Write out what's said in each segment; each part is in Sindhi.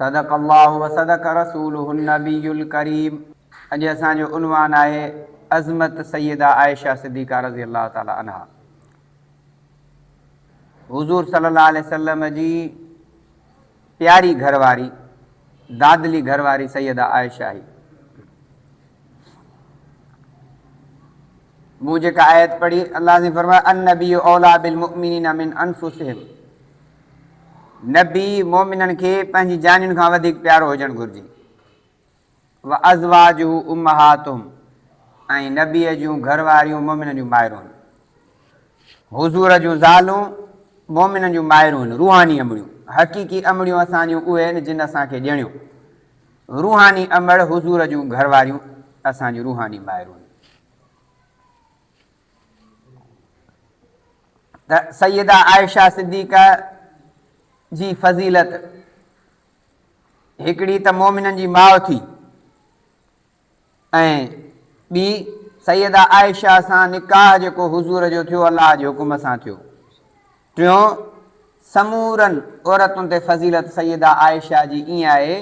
صدق الله وصدق رسوله النبي الڪريم اڄ اسان جو عنوان آهي عظمت سيده عائشه صديقه رضي الله تعالٰي عنها حضور صلي الله عليه وسلم جي پياري گهر واري دادلي گهر واري سيده عائشه هي مون جيڪا آيت پڙهي الله سائين فرمايو النبي اولٰي بالمؤمنين من انفسهم نبي مؤمنن کي پنهنجي جانين کان وڌيڪ پيارو هجڻ گهرجي. وازواجه امهاتهم ۽ نبيء جون گهر واريون مؤمنن جون مائرون هن. حضور جون زالون مؤمنن جون مائرون هن، روحاني امڙيون. حقيقي امڙيون اسان جون اهي هن جن اسان کي ڄڻيو. روحاني امڙ حضور جون گهر واريون اسان جون روحاني مائرون هن. ته سيده عائشه صديقه جي فضيلت هڪڙي ته مومنن جي ماء ٿي ۽ ٻي سيده عائشه سان نڪاح جيڪو حضور جو ٿيو الله جي حڪم سان ٿيو ٽيون، سمورن عورتن تي فضيلت سيده عائشه جي ائين آهي،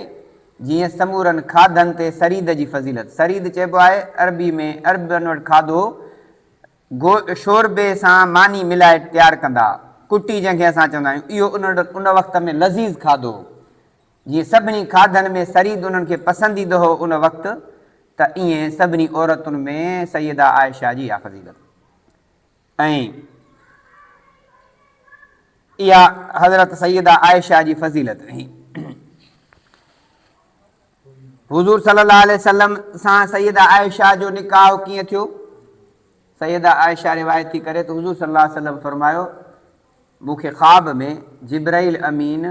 جيئن سمورن کاڌن تي سريد جي فضيلت. سريد چئبو آهي عربي ۾، عربن وٽ کاڌو گو شوربي سان ماني ملائي تيار ڪندا، ڪٽي جنهن کي اسان چوندا آهيون، اهو انهن وٽ ان وقت ۾ لذيذ کاڌو هو. جيئن سڀني کاڌن ۾ سريد انهن کي پسنديده هو ان وقت، ته ائين سڀني عورتن ۾ سيده عائشه جي اها فضيلت. ۽ اها حضرت سيده عائشه جي فضيلت ۽ حضور صلي الله عليه وسلم سان سيده عائشه جو نڪاح ڪيئن ٿيو سيده عائشه روايت ٿي ڪري ته حضور صلي الله عليه وسلم فرمايو مون کي خواب ۾ جبرائيل امين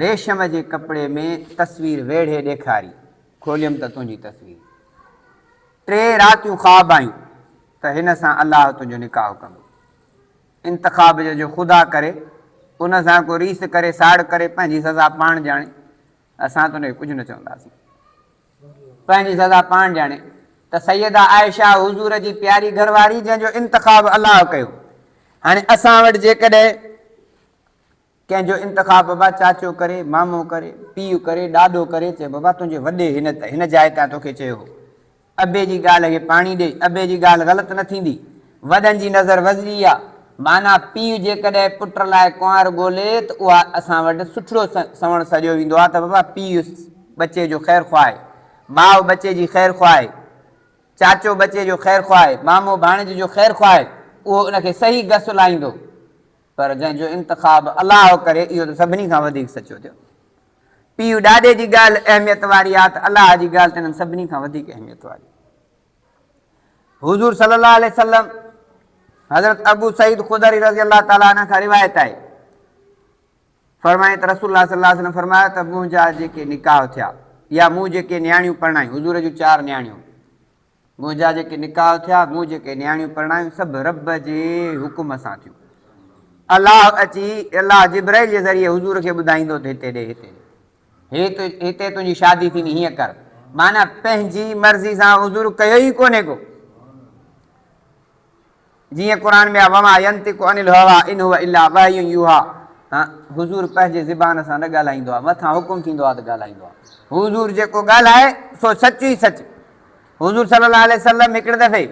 ريشم جي ڪپڙي ۾ تصوير ويڙهي ڏيکاري کوليم ته تنهنجي تصوير ٽي راتيون خواب آيون ته هن سان الله تنهنجو نڪاح ڪندو. انتخاب جو جو خدا ڪري، ان سان ڪو ريس ڪري، ساڙ ڪري، پنهنجي سزا پاڻ ڄاڻي، اسان ته ان کي ڪجهه نه چونداسين. پنهنجي سزا پاڻ ڄاڻي ته سيده عائشه حضور جي پياري گهر واري جنهن جو انتخاب الله ڪيو. هاڻي اسان وٽ جيڪڏهن ڪنهن جو انتخاب بابا چاچو ڪري، مامو ڪري، پيء ڪري، ڏاڏو ڪري چئه بابا تنهنجي وڏي هن ته هن جاء تان توکي چيو هو ابي جي ڳالهه کي پاڻي ڏي ابي جي ڳالهه غلط نه ٿيندي وڏن جي نظر وزري آ معنيٰ پيء جيڪڏهن پٽ لاء ڪنوار ڳولي ته اها اسان وٽ سٺڙو سنوڻ سڏيو ويندو آ ته بابا پيء ٻچي جو خير خواهه ماء ٻچي جي خير خواهه چاچو ٻچي جو خير خواهه مامو ڀاڻيج جو خير خواهه اهو ان کي صحيح گس لاهيندو. پر جنهن جو انتخاب الله ڪري اهو ته سڀني کان وڌيڪ سچو ٿيو. پيء ڏاڏي جي ڳالهه اهميت واري آهي ته الله جي ڳالهه ته انهن سڀني کان وڌيڪ اهميت واري آهي. حضور صلي الله عليه وسلم حضرت ابو سعيد خدري رضي الله تعالٰي عنه کان روايت آهي فرمائي ته رسول الله صلي الله عليه وسلم فرمايو ته منهنجا جيڪي نڪاح ٿيا يا مون جيڪي نياڻيون پرڻايون حضور جون چار نياڻيون منهنجا جيڪي نڪاح ٿيا، مون جيڪي نياڻيون پرڻايون، سڀ رب جي حڪم سان ٿيون. الله اچي، الله جبرئيل جي ذريعي حضور کي ٻڌائيندو ته هتي ڏي، هتي ڏي، هتي تنهنجي شادي ٿيندي، هيئن ڪر. معنيٰ پنهنجي مرضي سان حضور ڪيو ئي ڪونهي ڪو. جيئن قرآن ۾ آهي وما ينطق عن الهويٰ ان هو الا وحي يوحيٰ حضور پنهنجي زبان سان نه ڳالهائيندو آهي مٿان حڪم ٿيندو آهي ته ڳالهائيندو آهي حضور جيڪو ڳالهائي سو سچ ئي سچ حضور صلي الله عليه وسلم هڪڙي دفعي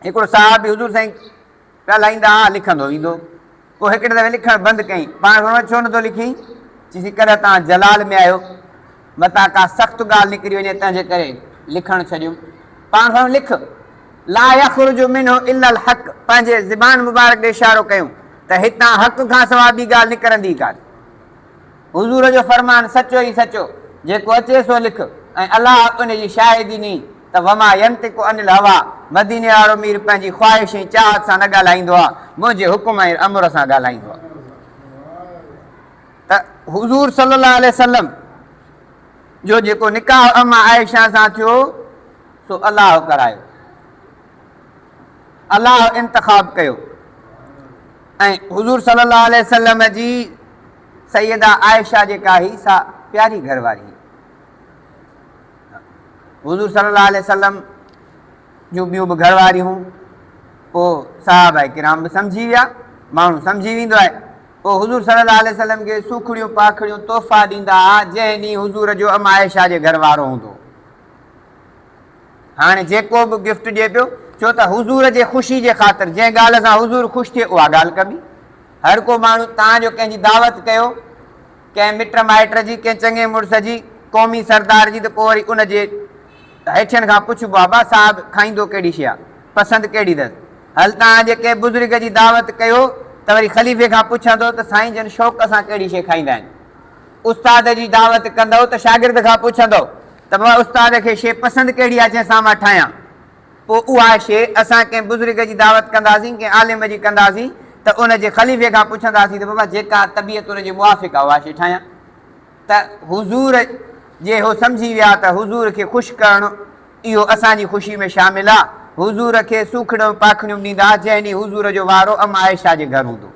هڪڙو صحابي حضور سائين ڳالهائيندا هئا لکندو ويندو پوء هڪڙي دفعي لکڻ بند ڪيائين. پاڻ کان ڇو نه ٿو لکين؟ چيسين ڪڏهن توهان جلال ۾ آهيو، متان ڪا سخت ڳالهه نڪري وڃي تنهن جي ڪري لکڻ ڇڏيم. پاڻ کان لک. لا يخرج منه الا الحق پنهنجي زبان مبارڪ ڏي اشارو ڪيون ته هتان حق کان سواء ٻي ڳالهه نڪرندي ئي ڪانه. حضور جو فرمان سچو ئي سچو، جيڪو اچي سو لک ۽ الله ان جي شاهدي ني. ته وما ينطق عن الهويٰ، مديني وارو مير پنهنجي خواهش ۽ چاهت سان نه ڳالهائيندو آهي، منهنجي حڪم ۽ امر سان ڳالهائيندو آهي. ته حضور صلي الله عليه وسلم جو جيڪو نڪاح اما عائشه سان ٿيو سو الله ڪرايو، الله انتخاب ڪيو ۽ حضور صلي الله عليه وسلم جي سيده عائشه جيڪا هي سا پياري گهر واري هي. حضور صلي الله عليه وسلم جون ٻيون به گهر واريون پوء صحابه ڪرام به سمجهي ويا ماڻهو سمجهي ويندو آهي پوء حضور صلي الله عليه وسلم کي سوکڙيون پاکڙيون تحفا ڏيندا ها جنهن ڏينهن حضور جو ام عائشه جي گهر وارو هوندو هاڻي جيڪو به گفٽ ڏي پيو ڇو ته حضور جي خوشي جي خاطر جنهن ڳالهه سان حضور خوش ٿئي اها ڳالهه ڪبي هر ڪو ماڻهو تان جو ڪنهن جي دعوت ڪيو ڪنهن مٽ مائٽ جي، ڪنهن چڱي مڙس جي، قومي سردار جي ته پوء وري ان جي هيٺين کان پڇ بابا صاحب کائيندو ڪهڙي شيء آ، پسند ڪهڙي اٿس. هل توهان جي ڪنهن بزرگ جي دعوت ڪيو ته وري خليفي کان پڇندو ته سائين جن شوق سان ڪهڙي شيء کائيندا آهن. استاد جي دعوت ڪندؤ ته شاگرد کان پڇندؤ ته بابا استاد کي شيء پسند ڪهڙي آ جنهن سان مان ٺاهيان. پوء اها شيء اسان ڪنهن بزرگ جي دعوت ڪنداسين، ڪنهن عالم جي ڪنداسين ته ان جي خليفي کان پڇنداسين ته بابا جيڪا طبيعت ان جي موافق آهي اها شيء ٺاهيان ته حضور جي هو سمجهي ويا ته حضور کي خوش ڪرڻ اهو اسان جي خوشي ۾ شامل آهي. حضور کي سوکڙيون پاکڙيون ڏيندا ها جنهن ڏينهن حضور جو وارو ام عائشه جي گهر هوندو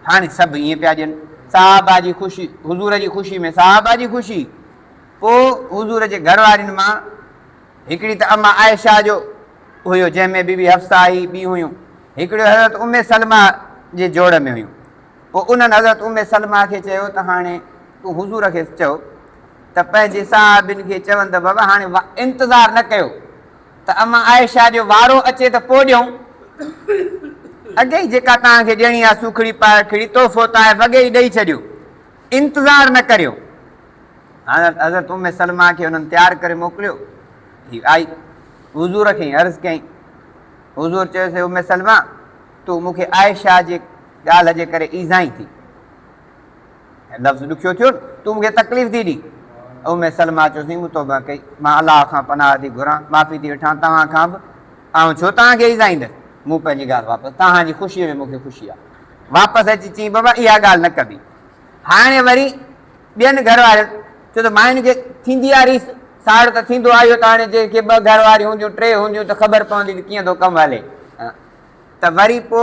هاڻي سڀ ائين پيا ڏين صحابه جي خوشي حضور جي خوشي ۾ صحابه جي خوشي پوء حضور جي گهر وارين مان هڪڙي ته اما عائشه جو هيو جنهن ۾ بي بي حفصه ۽ ٻيون هيون. هڪڙيون حضرت ام سلمه جي جوڙ ۾ هيون. پوء انهن حضرت ام سلمه کي چيو ته هاڻي تون حضور کي چئو ته پنهنجي صحابين کي چون ته بابا هاڻي انتظار نه ڪيو ته اما عائشه جو وارو اچي ته پوء ڏيون. اڳي ئي جيڪا توهان کي ڏيڻي آهي سوکڙي پائکڙي تحفو طائف اڳي ئي ڏئي ڇڏيو. انتظار نه ڪريو. حضرت ام سلمه کي انهن تيار ڪري موڪليو. هي آئي حضور کي عرض ڪيائين. حضور چيس اي ام سلمه! تون مون کي عائشه جي ڳالهه جي ڪري ايذائين ٿي. لفظ ڏکيو ٿيو نه؟ تون مون کي تڪليف ٿي ڏئين. ام سلمه چيو سائين مون توبه ڪئي. مان الله کان پناهه ٿي گهران، معافي ٿي وٺان توهان کان به. آئون ڇو توهان کي ايذائيندس. مون پنهنجي ڳالهه واپس توهان جي خوشيء ۾ مون کي خوشي آهي. واپس اچي چيائين بابا اها ڳالهه نه ڪبي. هاڻي وري ٻين گهر وارين ڇو ته ماين کي ٿيندي آ ريس ساڙ ته ٿيندو آ اهو ته هاڻي جي ڪي ٻه گهر واريون هونديون ٽي هونديون ته خبر پوندي ته ڪيئن ٿو ڪم هلي ته وري پو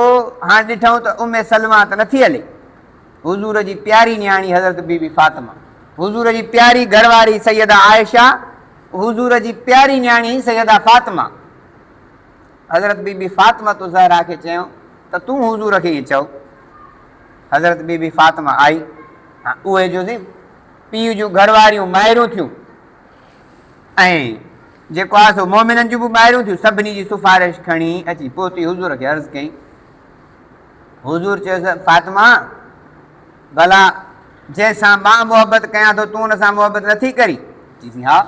هاڻ ڏٺئون ته ام سلمه ته نٿي هلي حضور جي پياري نياڻي حضرت بي بي فاطمه حضور جي پياري گهر واري سيده عائشه حضور جي پياري نياڻي سيده فاطمه حضرت بي بي فاطمه تو زهرا کي چيو ته تون حضور کي ائين چئو حضرت بي بي فاطمه آئي ۽ اهي جو سين پيء جون گهر واريون مائرون ٿيون ۽ جيڪو آهي سو مومنن جون به مائرون ٿيون سڀني جي سفارش کڻي اچي پهتي حضور کي عرض ڪئي حضور چيس فاطمه ڀلا جنهن سان مان محبت ڪيان ٿو تون ان سان محبت نٿي ڪري چيسين ها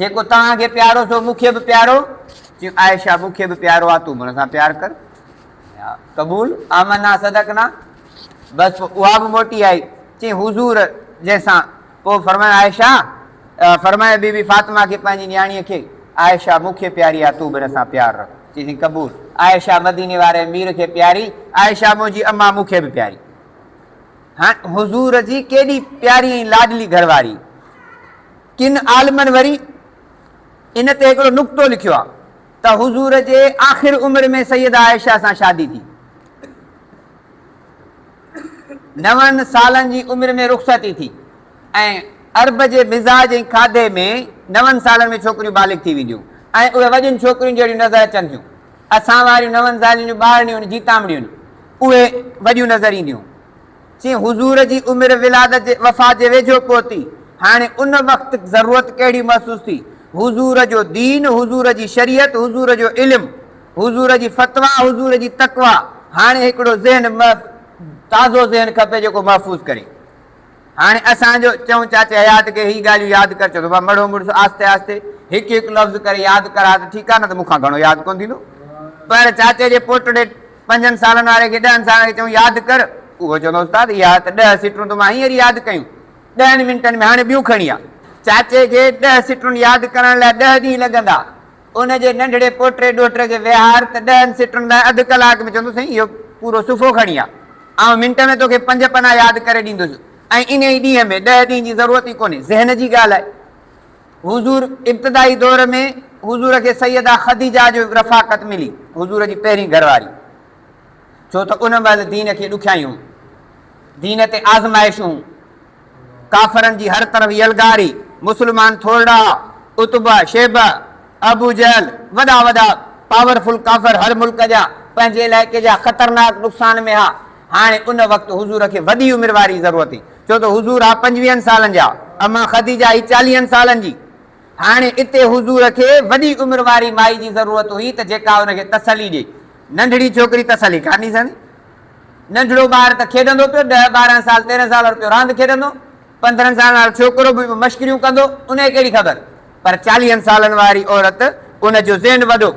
جيڪو توهان کي پيارو سو مون کي به پيارو چي عائشه مون کي به پيارو آ تون به ان سان پيار ڪر قبول آمنا صدقنا بس پوء اها به موٽي آئي چي حضور جنهن سان پوء فرمايو عائشه فرمايو بي بي فاطمه کي پنهنجي نياڻي کي عائشه مون کي پياري آ تون به ان سان پيار رک چيسين قبول عائشه مديني واري امير کي پياري عائشه منهنجي اما مون کي به پياري هاڻ حضور جي ڪيڏي پياري ۽ لاڏلي گهر واري ڪن عالمن وري ان تي هڪڙو نقطو لکيو آ ته حضور جي آخر عمر ۾ سيده عائشه سان شادي ٿي. نون سالن جي عمر ۾ رخصتي ٿي ۽ عرب جي مزاج ۽ کاڌي ۾ نون سالن ۾ ڇوڪريون بالغ ٿي وينديون ۽ اهي وڏين ڇوڪرين جهڙيون نظر اچن ٿيون. اسان واريون نون سالين جون ٻارڙيون جيتامڙيون اهي وڏيون نظر اينديون. چي حضور جي عمر ولادت جي وفات جي ويجهو پهتي، هاڻي ان وقت ضرورت ڪهڙي محسوس ٿي؟ حضور جو دين، حضور جي شريعت، حضور جو علم، حضور جي فتويٰ، حضور جي تقويٰ، هاڻي هڪڙو ذهن محف تازو ذهن کپي جيڪو محفوظ ڪري. هاڻي اسان جو چئون چاچي حيات کي هي ڳالهيون ياد ڪر چوندو مان مڙهو مڙس آهستي آهستي هڪ هڪ لفظ ڪري ياد ڪران ته ٺيڪ آهي نه ته مون کان گهڻو ياد ڪونه ٿيندو پر چاچي جي پوٽڙي پنجن سالن واري کي ڏهن سالن کي چئون ياد ڪر، اهو چوندو استاد اها ته ڏهه سٽرون ته مان هينئر ياد ڪيون، ڏهن منٽن ۾ هاڻي ٻيون کڻي آ. چاچي کي ڏهه سٽرون ياد ڪرڻ لاء ڏهه ڏينهن لڳندا. ان جي ننڍڙي پوٽي ڏوهٽي کي ويهار ته ڏهن سٽرن لاء اڌ ڪلاڪ ۾ چوندو سائين اهو پورو صفحو کڻي آ، آئون منٽ ۾ توکي پنج پنا ياد ڪري ڏيندس ۽ انهي ئي ڏينهن ۾ ڏهه ڏينهن جي ضرورت ئي ڪونهي، ذهن جي ڳالهه آهي. حضور ابتدائي دور ۾ حضور کي سيده خديجه جو رفاقت ملي، حضور جي پهرين گهر واري، ڇو ته ان مهل دين کي ڏکيائيون، دين تي آزمائشون، ڪافرن جي هر طرف يلغاري، مسلمان ٿورڙا ها، عتبه، شيبه، ابو جهل، وڏا وڏا پاور فل ڪافر هر ملڪ جا، پنهنجي علائقي جا خطرناڪ نقصان ۾ ها، هاڻي ان وقت حضور کي وڏي عمر واري ضرورت هئي. ڇو ته حضور آ پنجويهن سالن جا، اما خديجه هئي چاليهن سالن جي. هاڻي اتي حضور کي وڏي عمر واري مائي جي ضرورت هئي ته جيڪا ان کي تسلي ڏئي. ننڍڙي ڇوڪري تسلي ڪانه ڏئي سگهندي. ننڍڙو ٻار ته کيڏندو پيو، ڏهه ٻارهن سال، تيرهن سال وارو پيو راند کيڏندو، پندرهن سالن وارو ڇوڪرو به مشڪريون ڪندو، ان کي ڪهڙي خبر. پر چاليهن سالن واري عورت، ان جو ذهن وڏو.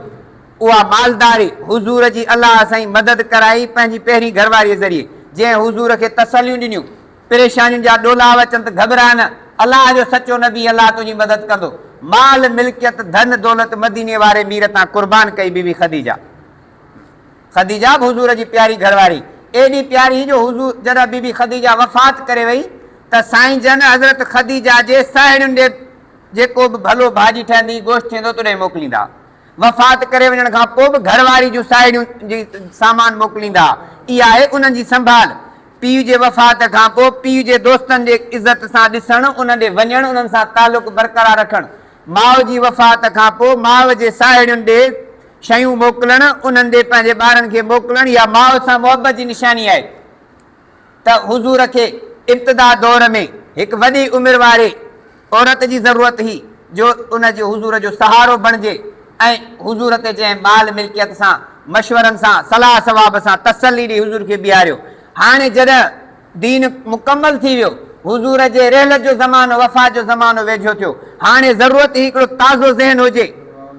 اها مالداري حضور جي الله سائين مدد ڪرائي پنهنجي پهرين گهرواريء ذريعي، جنهن حضور کي تسليون ڏنيون، پريشانين جا ڏولا به اچن ته گهٻراء نه، الله جو سچو نبي الله تنهنجي مدد ڪندو. مال ملڪيت ڌن دولت مديني واري مير تان قربان ڪئي بيبي خديجه. خديجه به حضور جي پياري گهرواري، ايڏي پياري جو حضور جڏهن بيبي خديجه وفات ڪري وئي ته سائين جن حضرت خديجه جي ساهيڙين ڏي جيڪو به ڀلو ڀاڄي ٺهندي گوشت ٿيندو تڏهن موڪليندا. وفات ڪري وڃڻ کان پوء به گهر واري جون ساهيڙيون جي سامان موڪليندا اها آهي انهن جي سنڀال. پيء جي وفات کان پوء پيء جي دوستن جي عزت سان ڏسڻ، انهن ڏي وڃڻ، انهن سان تعلق برقرار رکڻ. ماء جي وفات کان پوء ماء جي ساهيڙين ڏي شيون موڪلڻ، انهن ڏي پنهنجي ٻارن کي موڪلڻ اها ماء سان محبت جي نشاني آهي. ته حضور کي ابتدا دور ۾ هڪ وڏي عمر واري عورت جي ضرورت هئي جو ان جي حضور جو سهارو بڻجي ۽ حضور تي جنهن مال ملڪيت سان مشورن سان صلاح صواب سان تسلي ڏئي حضور کي بيهاريو هاڻي جڏهن دين مڪمل ٿي ويو حضور جي رحلت جو زمانو وفات جو زمانو ويجهو ٿيو هاڻي ضرورت هئي هڪڙو تازو ذهن هجي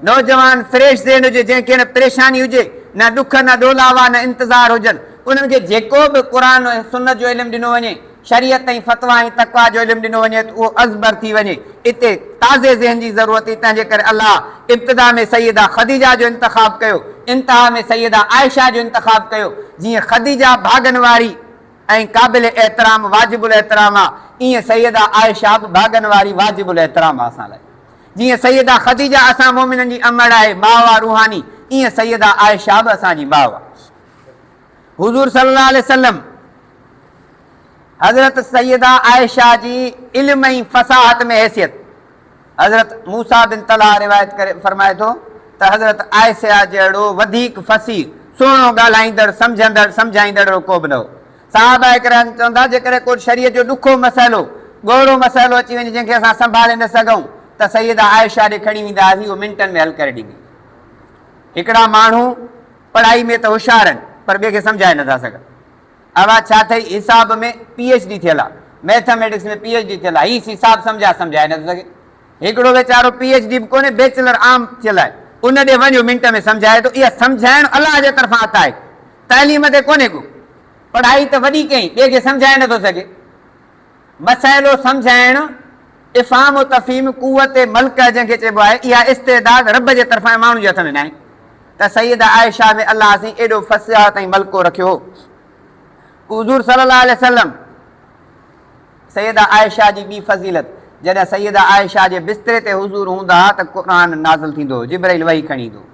نوجوان فريش ذهن هجي جنهن کي نه پريشاني هجي نه ڏک نه ڏولاوا نه انتظار هجن انهن کي جيڪو به قرآن ۽ سنت جو علم ڏنو وڃي، شريعت ۽ فتويٰ ۽ تقويٰ جو علم ڏنو وڃي ته اهو ازبر ٿي وڃي. اتي تازي ذهن جي ضرورت هئي، تنهن جي ڪري الله ابتدا ۾ سيده خديجه جو انتخاب ڪيو، انتها ۾ سيده عائشه جو انتخاب ڪيو، جيئن خديجه ڀاڳن واري ۽ قابل احترام واجب الاحترام آ، ايئن سيده عائشه به ڀاڳن واري واجب الاحترام آ اسان لاء. جيئن سيده خديجه اسان مؤمنن جي امڙ آهي، ماء آ روحاني، ايئن سيده عائشه به اسان جي ماء آ. حضور صلي الله عليه وسلم حضرت سيده عائشه جي علم ۽ فصاحت ۾ حيثيت حضرت موسيٰ بن طلحه روايت ڪري فرمائي ٿو ته حضرت عائشه جهڙو وڌيڪ فصيح، سهڻو ڳالهائيندڙ، سمجهندڙ، سمجهائيندڙ اهڙو ڪو به نه هو. صحابه ڪرام چون ٿا، جيڪڏهن ڪو شريعت جو ڏکو مسئلو، ڳوڙهو مسئلو اچي وڃي جنهن کي اسان سنڀالي نه سگهون ته سيده عائشه ڏي کڻي ويندا هئاسين اهو منٽن ۾ حل ڪري ڏيندي هئي. هڪڙا ماڻهو. پڙهائي ۾ ته هوشيار آهن پر ٻئي کي سمجهائي نٿا سگهن. اوهان ڇا اٿئي حساب ۾ پي ايڇ ڊي ٿيل آ، ميٿميٽڪس ۾ پي ايڇ ڊي ٿيل آ، هي حساب سمجهائي سمجهائي نٿو سگهي. هڪڙو ويچارو پي ايڇ ڊي به ڪونهي بيچلر عام ٿيل آهي ان ڏي وڃو منٽ ۾ سمجهائي ٿو اها سمجهائڻ الله جي طرفان عطا آهي تعليم تي ڪونهي ڪو پڙهائي ته وڏي ڪئين ٻئي کي سمجهائي نٿو سگهي. مسئلو سمجهائڻ، افهام و تفهيم، قوت ملڪه جنهن کي چئبو آهي، اها استعداد رب جي طرفان ۽ ماڻهن جي هٿ ۾ ناهي ته سيده عائشه ۾ الله سين ايڏو فصاحت ۽ ملڪو رکيو هو ڪو حضور صلي الله عليه وسلم سيده عائشه جي ٻي فضيلت، جڏهن سيده عائشه جي بستري تي حضور هوندا ها ته قرآن نازل ٿيندو هو، جبرئيل وحي کڻي ايندو هو.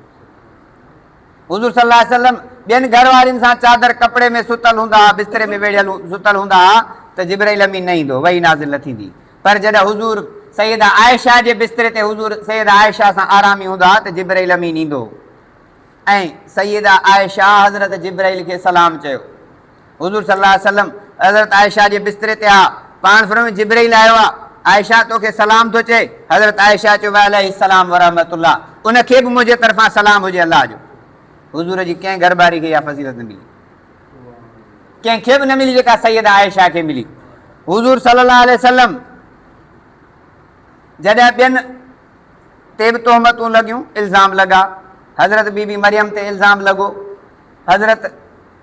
حضور صلي الله عليه وسلم ٻين گهر وارين سان چادر ڪپڙي ۾ ستل هوندا ها، بستري ۾ ويڙهيل ستل هوندا ها ته جبرائيل امين نه ايندو، وحي نازل نه ٿيندي. پر جڏهن حضور سيده عائشه جي بستري تي حضور سيده عائشه سان آرامي هوندا ها ته جبرائيل امين ايندو ۽ سيده عائشه حضرت جبرائيل کي سلام چيو. حضور صلي الله عليه وسلم حضرت عائشه جي بستري تي ها، پاڻ فرمايو جبرئيل آيو آ، عائشه تو کي سلام ٿو چئي، حضرت عائشه چيو وعليه السلام ورحمة الله، ان کي به منهنجي طرفان سلام هجي الله جو. حضور جي ڪنهن گهرٻاري کي اها فضيلت نه ملي، ڪنهن کي به نه ملي جيڪا سيده عائشه کي ملي. حضور صلي الله عليه وسلم جڏهن ٻين تي به تهمتون لڳيون، الزام لڳا، حضرت بي بي مريم تي الزام لڳو، حضرت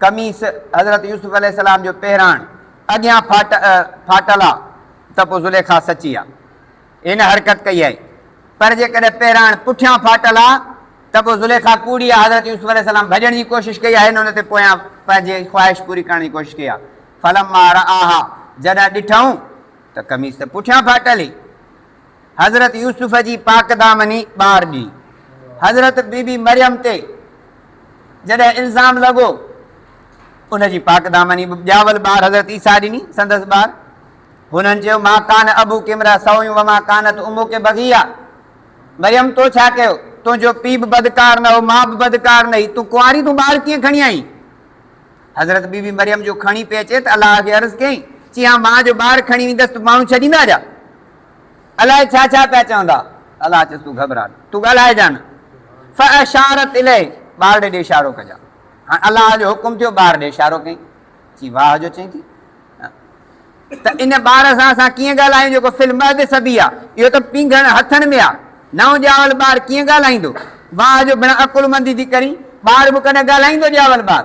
قميص حضرت يوسف عليه السلام جو پهراڻ اڳيان ڦاٽل آ ته پوء زليخا سچي آ هن حرڪت ڪئي آهي پر جيڪڏهن پهراڻ پٺيان ڦاٽل آ ته پوء زليخا ڪوڙي آ حضرت يوسف عليه السلام ڀڄڻ جي ڪوشش ڪئي آ هن ان تي پويان پنهنجي خواهش پوري ڪرڻ جي ڪوشش ڪئي آ فلما رآها جڏهن ڏٺئون ته قميص ته پٺيان ڦاٽل ئي حضرت يوسف جي پاڪدامني ٻار ڏي حضرت بي بي مريم تي جڏهن الزام لڳو ان جي پاڪدامني به ڄاول ٻار حضرت عيسيٰ ڏني سندس ٻار هنن چيو ما ڪان ابو ڪمرا سويون وما ڪانت امو کي بغيا مريم تو ڇا ڪيو تنهنجو پي به بدڪار نه هو ماء به بدڪار نه هي تون ڪنواري تون ٻار ڪيئن کڻي آئين حضرت بي بي مريم جو کڻي پي اچي ته الله کي عرض ڪيائين چي ها مان جو ٻار کڻي ويندس ته ماڻهو ڇڏيندا جا الائي ڇا ڇا پيا چوندا. الله چيس تون گهٻرا نه تون ڳالهائجان نه فاشارت اليه ٻار ڏي اشارو ڪجان هاڻ الله جو حڪم ٿيو ٻار ڏي اشارو ڪئين چي واهه جو چئين ٿي ته ان ٻار سان اسان ڪيئن ڳالهايون جيڪو في المهد صبي آ اهو ته پينگهڻ هٿن ۾ آ نئون ڄاول ٻار ڪيئن ڳالهائيندو واهه جو بنا عقلمندي ٿي ڪرين ٻار به ڪڏهن ڳالهائيندو ڄاول ٻار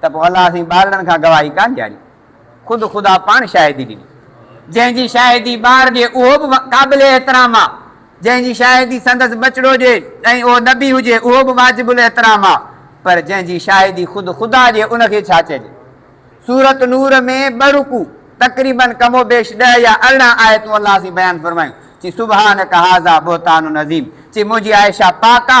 ته پوء الله سائين ٻارڙن کان گواهي ڪانه ڏياري، خود خدا پاڻ شاهدي ڏني، جنهن جي شاهدي ٻار ڏي اهو به قابل احترام آ، جنهن جي شاهدي سندس ٻچڙو ڏي ۽ اهو نبي هجي اهو به واجب الاحترام آ، پر جنهن جي شاهدي خود خدا ڏي ان کي ڇا چئجي؟ سورت نور ۾ ٻه رڪوع تقريباً ڪم و بيش ڏهه يا ارڙهن آيتون الله سائين بيان فرمايون، چي سبحانک هذا بهتان عظيم، چي منهنجي عائشه پاڪ آ،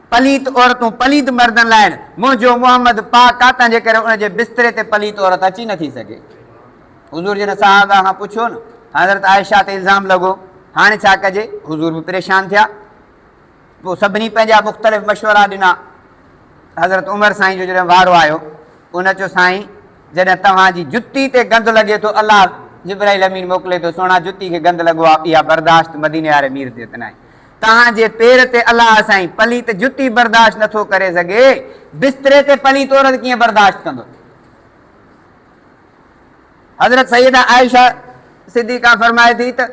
پليت عورتون پليد مردن لائڻ منهنجو محمد پاڪ ڪا تنهنجي ڪري ان جي بستري تي پليت عورت اچي نه ٿي سگهي حضور جن صحابه کان پڇيو نه حضرت عائشه تي الزام لڳو هاڻي ڇا ڪجي حضور به پريشان ٿيا پوء سڀني پنهنجا مختلف مشورا ڏنا حضرت عمر سائين جو جڏهن وارو آيو ان چيو سائين جڏهن توهان جي جتي تي گند لڳي ٿو الله جبرائيل امين موڪلي ٿو سهڻا جتي کي گند لڳو آهي اها برداشت مديني واري مير تي ته ناهي توهان جي پير تي الله سائين پليت جتي برداشت نه ٿو ڪري سگهي، بستري تي پليت عورت ڪيئن برداشت ڪندو؟ حضرت سيده عائشه صديقه فرمائي ٿي ته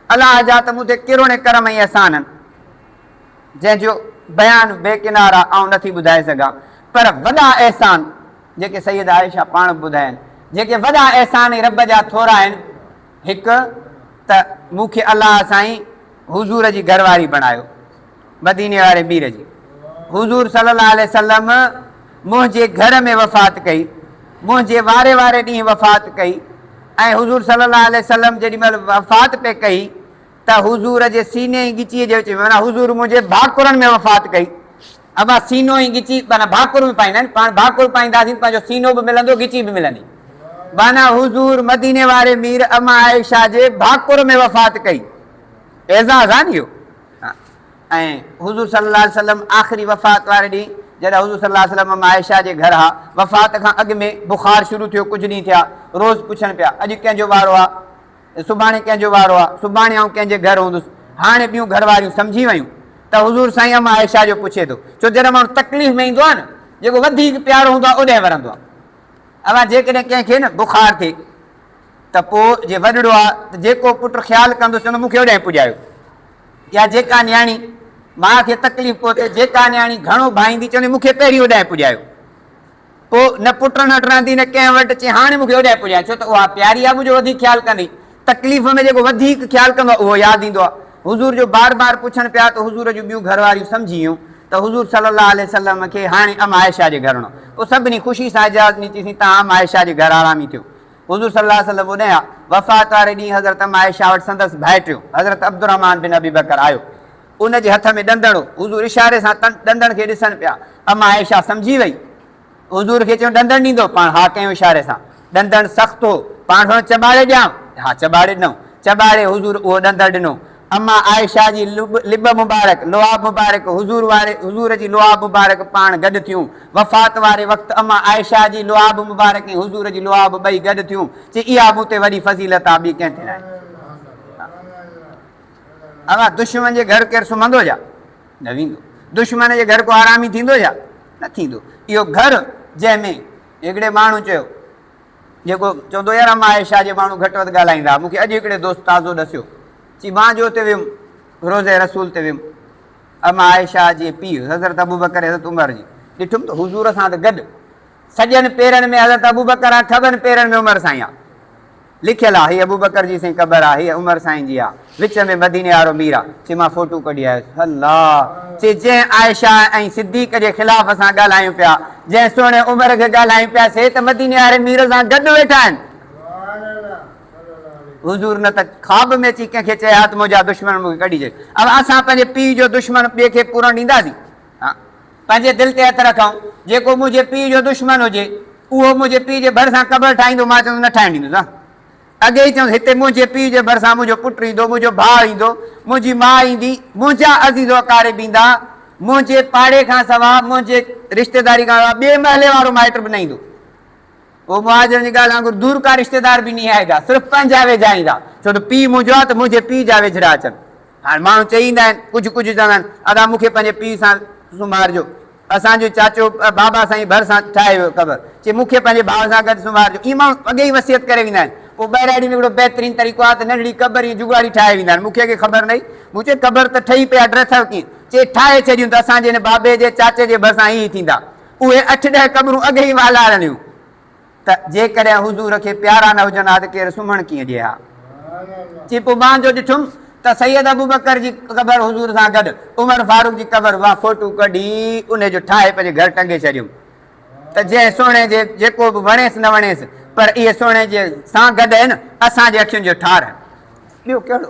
الله جا ته مون تي ڪروڙين ڪرم ۽ احسان آهن، جنهن جو بيان بي ڪنارا آئون نه ٿي ٻڌائي سگهان، پر وڏا احسان جيڪي سيده عائشه پاڻ به ٻڌايائين، جيڪي وڏا احسان ۽ رب جا ٿورا آهن، هڪ ته مون کي الله سائين حضور جي گهر واري بڻايو مديني واري مير جي حضور صلي الله عليه وسلم منهنجي گهر ۾ وفات ڪئي منهنجي واري واري ڏينهن وفات ڪئي ۽ حضور صلي الله عليه وسلم جيڏي مهل وفات پئي ڪئي ته حضور جي سيني ۽ ڳچيء جي وچ ۾ معنيٰ حضور منهنجي ڀاڪرن ۾ وفات ڪئي. اما سينو ۽ ڳچي معنيٰ ڀاڪر به پائيندا آهن، پاڻ ڀاڪر پائينداسين ته پنهنجو سينو به ملندو، ڳچي به ملندي. معنيٰ حضور مديني واري مير اما عائشه جي ڀاڪر ۾ وفات ڪئي. اعزاز آهي نه اهو. ۽ حضور صلي الله عليه وسلم آخري وفات واري ڏينهن جڏهن حضور صلي الله عليه وسلم اما عائشه جي گهر ها، وفات کان اڳ ۾ بخار شروع ٿيو، ڪجهه ڏينهن ٿيا، روز پڇن پيا، اڄ ڪنهن جو وارو آ؟ ته سڀاڻي ڪنهن جو وارو آ، سڀاڻي آئون ڪنهن جي گهر هوندس، هاڻي ٻيون گهر واريون سمجهي ويون ته حضور سائين ام عائشه جو پڇي ٿو، ڇو جڏهن ماڻهو تڪليف ۾ ايندو آ نه جيڪو وڌيڪ پيارو هوندو آ اوڏهن ورندو آ، اوهان جيڪڏهن ڪنهن کي نه بخار ٿئي ته پوء جي وڏڙو آ ته جيڪو پٽ خيال ڪندس چوندو مون کي اوڏهن پڄايو يا جيڪا نياڻي ماء کي تڪليف پهتي جيڪا نياڻي گهڻو ڀائيندي چوندي مون کي پهرين اوڏهن پڄايو پوء نه پٽ نٽ رهندي نه ڪنهن وٽ چي هاڻي مون کي اوڏانهن پڄاء ڇو ته اها پياري آهي منهنجو وڌيڪ خيال ڪندي تڪليف ۾ جيڪو وڌيڪ خيال ڪندو آهي اهو ياد ايندو آهي حضور جو بار بار پڇڻ پيا ته حضور جون ٻيون گهر واريون سمجهي ويون ته حضور صلي الله عليه وسلم کي هاڻي ام عائشه جي گهر وڃڻو پوء سڀني خوشي سان اجازت ڏني چيسين توهان ام عائشه جي گهر آرامي ٿيو حضور صلي الله عليه وسلم اوڏانهن آيا وفات واري ڏينهن حضرت ام عائشه وٽ سندس ڀائٽيو حضرت عبدالرحمان بن ابي بڪر آيو ان جي هٿ ۾ ڏندڻ هو. حضور اشاري سان تن ڏندڻ کي ڏسن پيا. اما عائشه سمجهي وئي. حضور کي چيو ڏندڻ ڏيندو؟ پاڻ ها ڪيائون اشاري سان. ڏندڻ سخت هو. پاڻ سوڻيو چٻاڙي ڏيان؟ ها چٻاڙي ڏنائون. چٻاڙي حضور اهو ڏندڻ ڏنو. اما عائشه جي لب مبارڪ، لعاب مبارڪ، حضور واري حضور جي لعاب مبارڪ پاڻ گڏ ٿيون. وفات واري وقت اما عائشه جي لعاب مبارڪ ۽ حضور جي لعاب ٻئي گڏ ٿيون. چي اها مون تي وڏي فضيلت آ ٻي ڪنهن تي ناهي. اوهان دشمن جي گهر ڪير سمهندو ڇا؟ نه ويندو. دشمن جي گهر ڪو آرامي ٿيندو ڇا؟ نه ٿيندو. اهو گهر جنهن ۾ هڪڙي ماڻهو چيو جيڪو چوندو يار اما عائشه جي ماڻهو گهٽ وڌ ڳالهائيندا ها، مون کي اڄ هڪڙي دوست تازو ڏسيو چي مان جو اتي ويم روضه رسول تي ويم اما عائشه جي پيء حضرت ابوبڪر حضرت عمر جي ڏٺم ته حضور سان ته گڏ سڄن پيرن ۾ حضرت ابوبڪر آ کٻن پيرن ۾ عمر سائين آ. لکيل آ هي ابوبڪر جي سين قبر آ هي عمر سائين جي آ وچ ۾ مديني آرو مير آ چي مان فوٽو ڪڍي آيس الله چي جنهن عائشه ۽ صديق جي خلاف اسان ڳالهايون پيا جنهن سهڻي عمر کي ڳالهايون پيا سي ته مديني آري مير سان گڏ ويٺا آهن حضور نه ته خواب ۾ اچي ڪنهن کي چئي ها ته منهنجا دشمن مون کي ڪڍي چئي اب اسان پنهنجي پيء جو دشمن ٻئي کي پورڻ ڏينداسين آء پنهنجي دل تي هٿ رکئون، جيڪو منهنجي پيء جو دشمن هجي، اهو منهنجي پيء جي ڀرسان قبر ٺاهيندو. مان چيس نه ٺاهڻ ڏيندس. آء اڳي ئي چيس، هتي منهنجي پيء جي ڀرسان منهنجو پٽ ايندو، منهنجو ڀاء ايندو، منهنجي ماء ايندي، منهنجا عزيز و اقارب ايندا، منهنجي پاڙي کان سواء، منهنجي رشتيداري کان سواء ٻئي محلي وارو مائٽ به نه ايندو. او مهاجرن جي ڳالهه وانگر دور ڪا رشتيدار به نهايجا، صرف پنهنجا ويجها ايندا، ڇو ته پيء منهنجو آ ته منهنجي پيء جا ويجهڙا اچن. هاڻ ماڻهو چئي ايندا آهن، ڪجهه ڪجهه چوندا آهن، ادا مون کي پنهنجي پيء سان سمهارجو، اسان جو چاچو بابا سائين ڀرسان ٺاهي ويو قبر، چي مون کي پنهنجي ڀاء سان گڏ سمهارجو، ائين ماڻهو اڳي ئي وصيت ڪري ويندا آهن. پوء ٻهراڙي ۾ هڪڙو بهترين طريقو آ ته ننڍڙي قبر ائين جگاڙي ٺاهي ويندا آهن، مون کي اڳي خبر نه هئي، مون چيو قبر ته ٺهي پئي آ ڊرٿئو ڪيئن؟ چي ٺاهي ڇڏيون ته اسان جي هن بابي جي چاچي جي ڀرسان ائين ئي ٿيندا. اهي اٺ ڏهه قبرون اڳ ئي والارڻيون ته جيڪڏهن حضور کي پيارا نه هجن ها ته ڪير سمهڻ ڪيئن ڏئي ها؟ چي پوء مان جو ڏٺم ته سيد ابوبڪر جي قبر حضور سان گڏ عمر فاروق جي قبر مان فوٽو ڪڍي انهي جو ٺاهي پنهنجي گهر ٽنگي ڇڏيم ته جنهن سهڻي جي جيڪو به وڻيس نه وڻيس پر اهي سهڻي جي سان گڏ هن اسان جي اکين جو ٺار هن. ٻيو ڪهڙو؟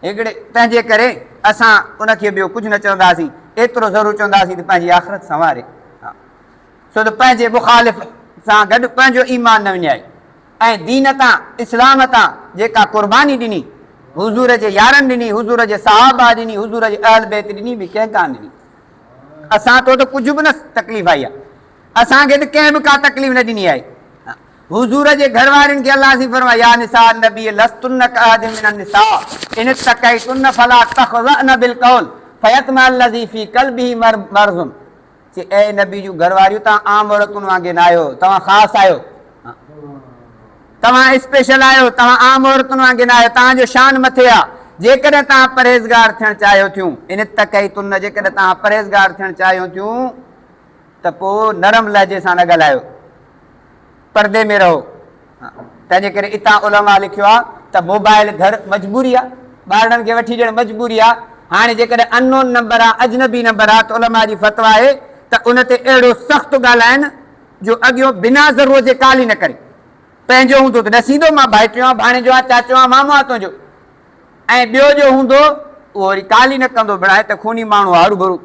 هيڪڙي تنهنجي ڪري اسان ان کي ٻيو ڪجهه نه چونداسين، ايترو ضرور چونداسين ته پنهنجي آخرت سنواري ها، ڇو ته پنهنجي مخالف سان گڏ پنهنجو ايمان نه وڃائي ۽ دين تان، اسلام تان، جيڪا قرباني ڏني، حضور جي يارن ڏني، حضور جي صحابه ڏني، حضور جي اهل بيت ڏني، ٻي ڪنهن ڪانه ڏني. اسان تو ته ڪجهه به نه تڪليف آئي آهي. اسان کي ته ڪنهن به ڪا تڪليف نه ڏني آهي. حضور جي گهر وارين کي الله سين فرمايو، يا نساء النبي لستن ڪاحد من النساء ان اتقيتن فلا تخضعن بالقول فيطمع الذي في قلبه مرض چي اي نبي جون گهر واريون توهان عام عورتن وانگي ناهيو توهان خاص آهيو توهان اسپيشل آهيو توهان عام عورتن وانگي ناهيو توهان جو شان مٿي آ جيڪڏهن توهان پرهيزگار ٿيڻ چاهيو ٿيون ان اتقيتن جيڪڏهن توهان پرهيزگار ٿيڻ چاهيو ٿيون ته پوء نرم لهجي سان نه ڳالهايو، پردي ۾ رهو. تنهن جي ڪري اتان علماء لکيو آهي ته موبائل گهر مجبوري آهي، ٻارڙن کي وٺي ڏيڻ مجبوري آهي. هاڻي جيڪڏهن اننون نمبر آهي، اجنبي نمبر آهي ته علماء جي فتويٰ آهي ته ان تي اهڙو سخت ڳالهائين جو اڳيون بنا ضرورت جي ڪال ئي نه ڪري. پنهنجو هوندو ته ڏسيندو مان ڀائٽيو آهيان، ڀاڻيجو آهيان، چاچو آهيان، مامو آهيان تنهنجو ۽ ٻيو جو هوندو اهو وري ڪال ئي نه ڪندو، بڻايو ته خوني ماڻهو آهي هروڀرو.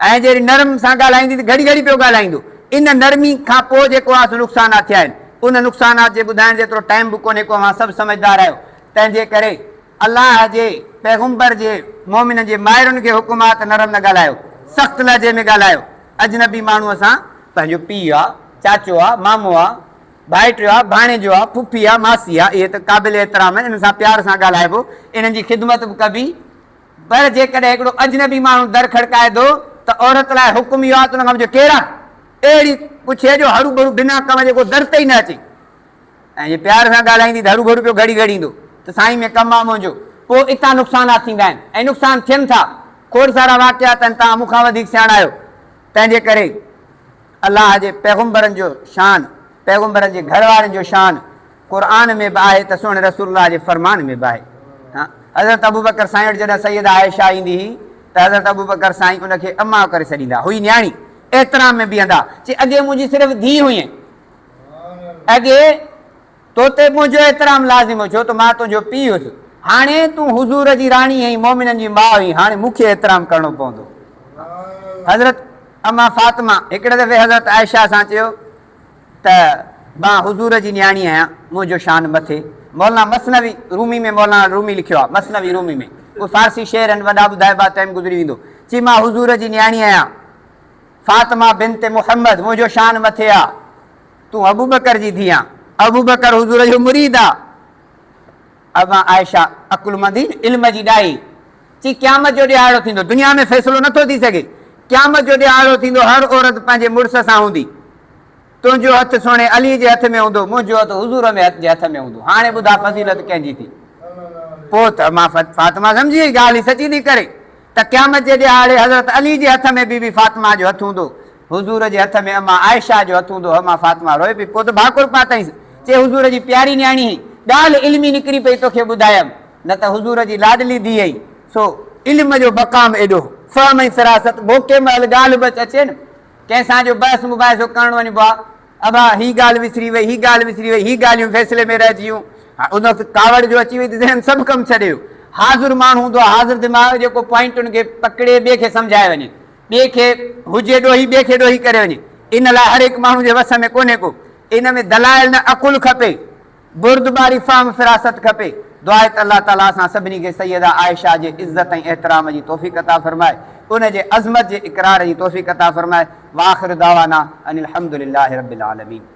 ۽ جيڪڏهن نرم سان ڳالهائيندين ته گهڙي گهڙي پيو ڳالهائيندو. ان نرمي کان پوء جيڪو اوهان سان نقصانات ٿيا آهن، ان نقصانات جي ٻڌائڻ جيترو ٽائيم به ڪونهي ڪو اوهان سڀ سمجهدار آهيو. تنهنجي ڪري الله جي پيغمبر جي مؤمنن جي مائرن کي حڪم آهي ته نرم نه ڳالهايو، سخت لهجي ۾ ڳالهايو. اجنبي ماڻهوء سان. پنهنجو پيء آ، چاچو آ، مامو آ، ڀائٽيو آ، ڀاڻيجو آ، ڦڦي آ، ماسي آ، اهي ته قابل احترام آهن، انهن سان پيار سان ڳالهائبو، انهن جي خدمت به ڪبي. پر جيڪڏهن هڪڙو اجنبي ماڻهو در کڙڪائي ٿو ته عورت لاء حڪم اهو آهي ته ان کان پڇي ڪير آهي؟ اهڙي پڇي جو هروڀرو بنا ڪم جي ڪو در تي ئي نه اچي ۽ جي پيار سان ڳالهائيندي ته هروڀرو پيو گهڙي گهڙي ايندو ته سائين ۾ ڪم آهي منهنجو. پوء اتان نقصانات ٿيندا آهن ۽ نقصان ٿين ٿا. کوڙ سارا واقعات آهن، توهان مون کان وڌيڪ سياڻا آهيو. تنهنجي ڪري الله جي پيغمبرن جو شان، پيغمبرن جي گهر وارين جو شان، قرآن ۾ به آهي ته سهڻي رسول الله جي فرمان ۾ به آهي. حضرت ابوبڪر سائين وٽ جڏهن سيده عائشه ايندي هئي ته حضرت ابوبڪر سائين ان کي اما ڪري سڏيندا هئي نياڻي احترام ۾ بيهندا چي اڳي منهنجي صرف ڌيء هئين اڳي تو تي منهنجو احترام لازم هو ڇو ته مان تنهنجو پيء هيس هاڻي تون حضور جي راڻي هئين مومنن جي ماء هئين هاڻي مون کي احترام ڪرڻو پوندو حضرت اما فاطمه هڪڙي دفعي حضرت عائشه سان چيو ته مان حضور جي نياڻي آهيان، منهنجو شان مٿي. مولانا مثنوي رومي ۾ مولانا الرومي لکيو آهي، مثنوي رومي ۾، اهي فارسي شعر آهن، وڏا ٻڌائبا، ٽيم گذري ويندو. چي مان حضور جي نياڻي آهيان، فاطمه بنت محمد، منهنجو شان مٿي آ، تون ابوبڪر جي ڌيء آن، ابوبڪر حضور جو مريد آ. امان عائشه عقلمندي علم جي ڏائي چي قيامت جو ڏيهاڙو ٿيندو دنيا ۾ فيصلو نٿو ٿي سگهي قيامت جو ڏيهاڙو ٿيندو هر عورت پنهنجي مڙس سان هوندي تنهنجو هٿ سهڻي علي جي هٿ ۾ هوندو منهنجو هٿ حضور ۾ جي هٿ ۾ هوندو هاڻي ٻڌاء فضيلت ڪنهن جي ٿي پوء ته امان فاطمه سمجهي وئي ڳالهه هي سچي نڪري ته قيامت جي ڏيهاڙي حضرت علي جي هٿ ۾ بي بي فاطمه جو هٿ هوندو حضور جي هٿ ۾ اما عائشه جو هٿ هوندو هو، اما فاطمه روئي پئي، پوء ته ڀاڪر پاتائينس، چي حضور جي پياري نياڻي هين، ڳالهه علمي نڪري پئي توکي ٻڌايم، نه ته حضور جي لاڏلي ڌيء هين، سو علم جو مقام ايڏو، فهم ۽ فراست بو ڪنهن مهل ڳالهه به اچي نه، ڪنهن سان جو بحث مباحثو ڪرڻ وڃبو آ، ابا هي ڳالهه وسري وئي، هي ڳالهه وسري وئي، هي ڳالهيون فيصلي ۾ رهجي ويون، هاڻ ان وقت ڪاوڙ جو اچي وئي ته ذهن سڀ ڪم ڇڏي ويو، حاضر ماڻهو هوندو آ، حاضر دماغ، جيڪو پوائنٽن کي پڪڙي ٻئي کي سمجهائي وڃي، ٻئي کي هجي ڏوهي ٻئي کي ڏوهي ڪري وڃي ان لاء هر هڪ ماڻهو جي وس ۾ ڪونهي ڪو ان ۾ دلائل نه عقل کپي بردباري فهم فراست کپي دعا ته الله تعالي اسان سڀني کي سيده عائشه جي عزت ۽ احترام جي توفيق عطا فرمائي ان جي عظمت جي اقرار جي توفيق عطا فرمائي واخر دعوانا ان الحمدلله رب العالمين.